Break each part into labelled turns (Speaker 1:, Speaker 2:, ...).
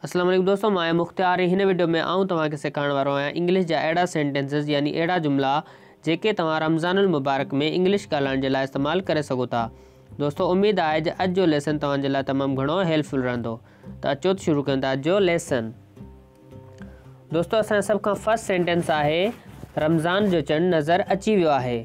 Speaker 1: السلام عليڪم دوستو مان آهيان مختيار ۽ هن وڊيو ۾ آئون توهان کي سيکارڻ وارو آهيان انگلش جا اهڙا سينٽينسز يعني اهڙا جملا جيڪي توهان رمضان المبارڪ ۾ انگلش ڳالهائڻ جي لاء استعمال ڪري سگهو ٿا دوستو اميد آهي جو اڄ جو ليسن توهان جي لاء تمام گهڻو هيلفل رهندو ته اچو ته شروع ڪيون ٿا اڄ جو ليسن دوستو اسان سڀ کان فرسٽ سينٽينس آهي رمضان جو چنڊ نظر اچي ويو آهي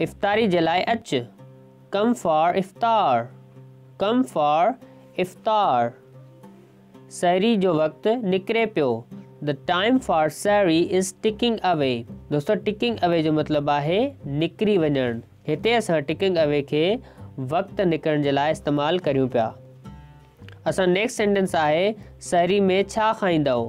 Speaker 1: افطاري جي لاء اچ Come for افطار Come for افطار سحري جو وقت نڪري پيو The time for سحري is ticking away دوستو ٽڪنگ اوي جو مطلب آهي نڪري وڃڻ هتي اسان ٽڪنگ اوي کي وقت نڪرڻ جي لاء استعمال ڪريون پيا اسان نيڪسٽ سينٽنس آهي سحري ۾ ڇا کائيندؤ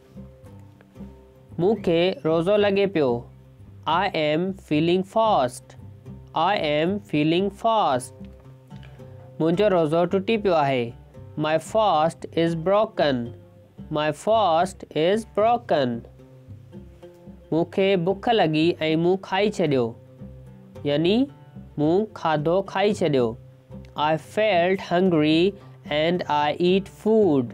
Speaker 1: مون کي روزو لڳي پيو I am feeling fast I am feeling fast منهنجو روزو ٽٽي پيو آهي my fast is broken my fast is broken مون کي بک لڳي ۽ مون کائي ڇڏيو يعني مون کاڌو کائي ڇڏيو I felt hungry and I ate food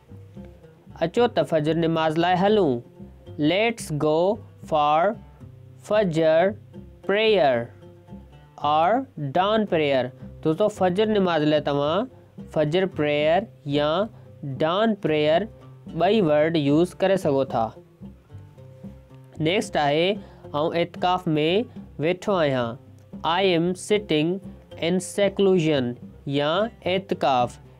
Speaker 1: اچو ته فجر نماز لاء هلون Let's go for Fajr prayer or dawn prayer دوستو فجر نماز لاء توهان فجر پريئر يا ڊان پريئر ٻئي ورڊ يوز ڪري سگهو ٿا نيڪسٽ آهي آئون اعتڪاف ۾ ويٺو آهيان I am sitting in seclusion يا اعتڪاف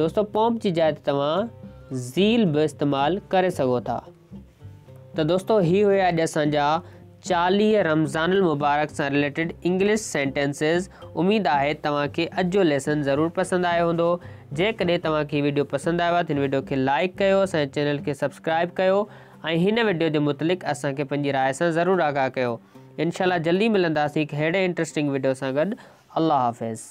Speaker 1: دوستو پومپ جي جاء تي توهان زيل به استعمال ڪري سگهو ٿا ته دوستو هي هيا اڄ اسان جا چاليهه رمضان المبارڪ سان ريليٽيڊ انگلش سينٽنسز اميد آهي توهان کي اڄ جو ليسن ضرور پسند آيو هوندو جيڪڏهن توهان کي ويڊيو پسند آيو آهي ته هن ويڊيو کي لائڪ ڪيو اسان چينل کي سبسڪرائب ڪيو ۽ هن ويڊيو جي متعلق اسان کي پنهنجي راء سان ضرور آگاهه ڪيو انشاءالله جلدي ملنداسين هڪ ههڙي انٽرسٽنگ ويڊيو سان گڏ الله حافظ